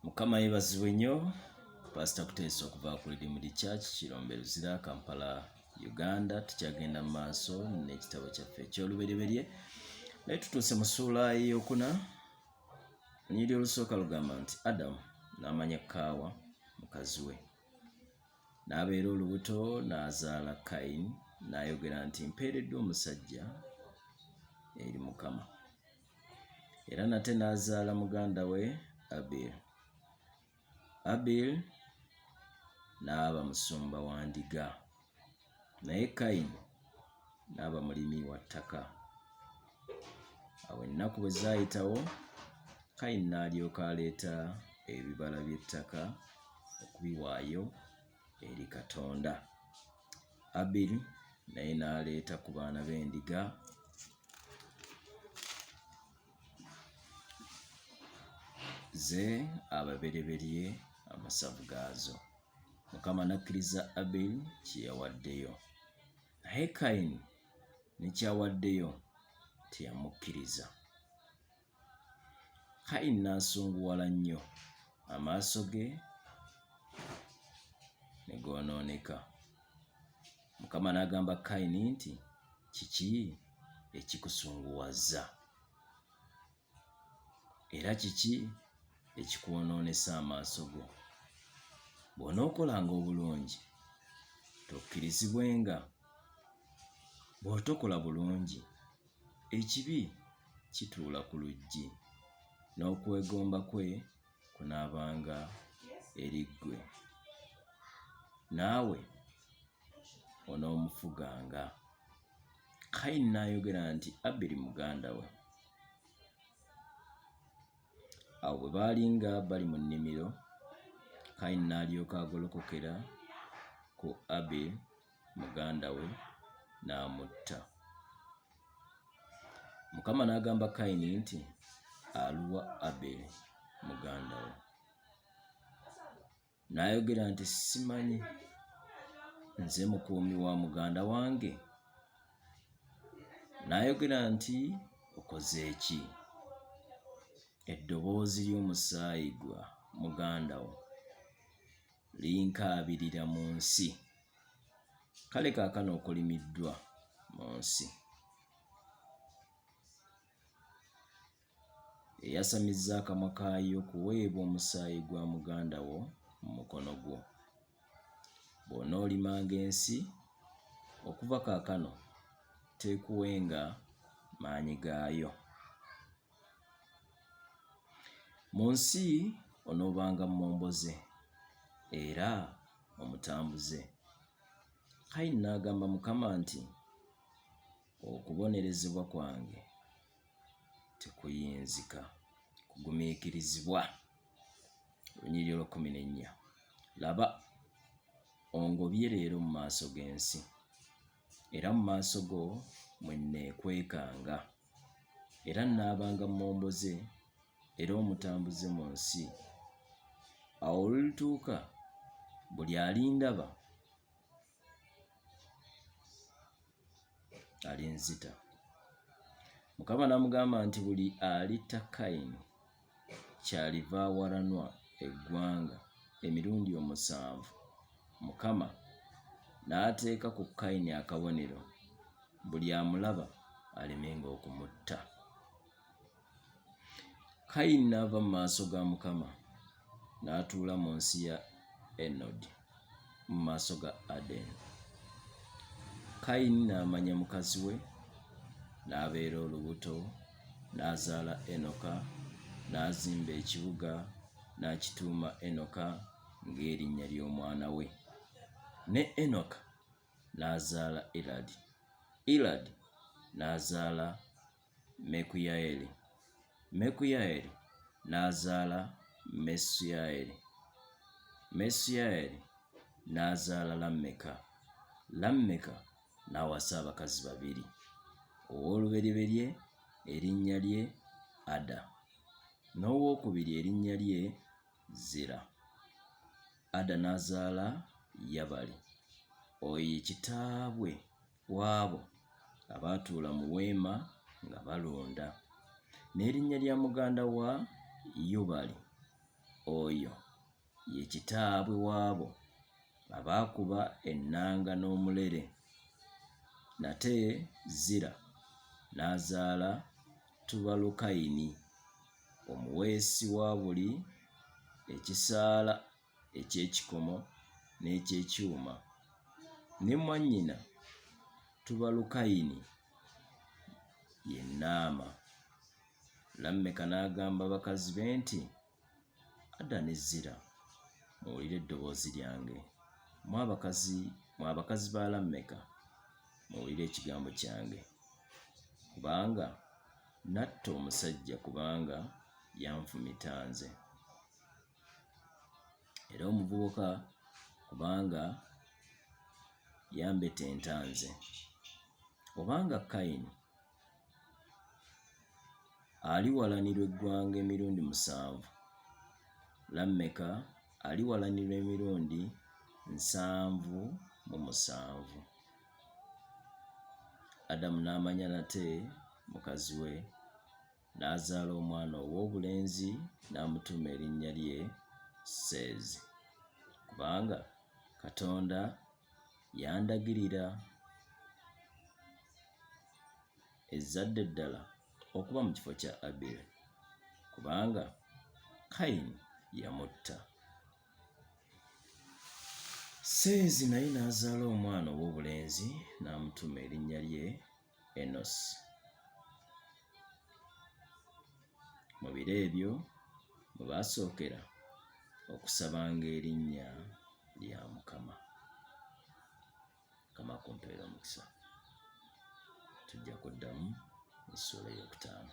mukama yebazibwe nnyo pasita kuteesa okuva ku ridimudi church kirombe luzira kampala uganda tukyagenda mu maaso n'ekitabo kyaffe ekyolubereberye naye tutuuse mu suula eyokuna onyiri olusooka lugamba nti adamu n'amanya kaawa mukazi we n'abeera olubuto n'azaala kayini n'ayogera nti mpeereddwa omusajja eri mukama era nate n'azaala muganda we Abel. Abel n'aba musumba wa ndiga, naye Kayini n'aba mulimi wa ttaka. Awo ennaku bwe zaayitawo, Kayini n'alyoka aleeta ebibala by'ettaka okubiwaayo eri Katonda. Abiri naye n'aleeta ku baana b'endiga ze ababereberye amasavu gaazo. Mukama n'akkiriza Abiri kye yawaddeyo, naye Kayini ne kyawaddeyo teyamukkiriza. Kayi n'asunguwala nnyo, amaaso ge ne goonooneka. Mukama n'agamba Kayini nti, Kiki ekikusunguwazza? Era kiki ekikwonoonesa amaaso go? Bw'onookolanga obulungi, tokkirizibwenga, bw'otokola bulungi Ekibi kituula ku luggi, n'okwegomba kwe kunaabanga eri ggwe. Naawe onoomufuganga. Kayini n'ayogera nti Abiri muganda we. Awo bwe baali nga bali mu nnimiro, Kayini n'alyoka agolokokera ku Abiri muganda we n'amutta. Mukama n'agamba Kayini nti, Aluwa Aberi muganda wo? N'ayogera nti, Simanyi, nze mukuumi wa muganda wange. N'ayogera nti, Okoze ki? Eddoboozi ly'omusaayi gwa muganda wo linkaabirira mu nsi kale kaakano okolimiddwa mu nsi eyasamizza akamwa kaayo kuweebwa omusaayi gwa muganda wo mu mukono gwo bw'onoolimanga ensi okuva kaakano teekuwenga maanyi gaayo Mu nsi onoobanga mmomboze era omutambuze. Kayini n'agamba Mukama nti, Okubonerezebwa kwange tekuyinzika kugumiikirizibwa. Lunyiriri olw'ekkumi n'ennya. Laba, ongobye leero mu maaso g'ensi, era mu maaso go mwe nneekwekanga. Era nnaabanga mmomboze era omutambuze mu nsi. Awo olulituuka buli alindaba alinzita. Mukama n'amugamba nti, Buli alitta Kayini kyaliva awalanwa eggwanga emirundi omusanvu, Mukama n'ateeka ku Kayini akabonero, buli amulaba alemenga okumutta. Kayini n'ava mu maaso ga Mukama n'atuula mu nsi ya Enodi. mu maaso ga Adeni. Kayini n'amanya mukazi we, n'abeera olubuto, n'azaala Enoka, n'azimba ekibuga, n'akituuma Enoka ng'erinnya ly'omwana we. Ne Enoka n'azaala Iradi. Iradi n'azaala Mekuyaeli, Mekuyaeli n'azaala Mesuyaeli, Mesuyaeli n'azaala Lammeka, Lammeka n'awasa abakazi babiri. Owoolubereberye erinnya lye Ada, n'owokubiri erinnya lye Zira. Ada n'azaala Yabali, oyo ye kitaabwe w'abo abaatuula mu weema nga balonda, n'erinnya lya muganda wa Yubali, oyo ye kitaabwe w'abo abaakuba ennanga n'omulere. Nate Zira n'azaala Tubalukayini, omuweesi wa buli ekisaala eky'ekikomo n'eky'ekyuma, ne mwannyina Tubalukayini ye Naama. Lammeka n'agamba bakazi be nti, Ada ne Zira, muwulire eddoboozi lyange, mwe abakazi mwe abakazi ba Lammeka, muwulire ekigambo kyange, kubanga natta omusajja kubanga yanfumita nze. era omuvubuka kubanga yambetenta nze obanga Kayini aliwalanirwa eggwanga emirundi musanvu Lammeka aliwalanirwa emirundi nsanvu mu musanvu Adamu n'amanya nate mukazi we N'azaala omwana ow'obulenzi n'amutuuma erinnya lye Seezi, kubanga Katonda yandagirira ezzadde eddala okuba mu kifo kya Aberi, kubanga Kayini yamutta. Seezi naye n'azaala omwana ow'obulenzi n'amutuuma erinnya lye Enosi. Mu biro ebyo mwe baasookera okusabanga erinnya lya Mukama. Mukama kumpeera omukisa. Tujja kuddamu essuula ey'okutaano.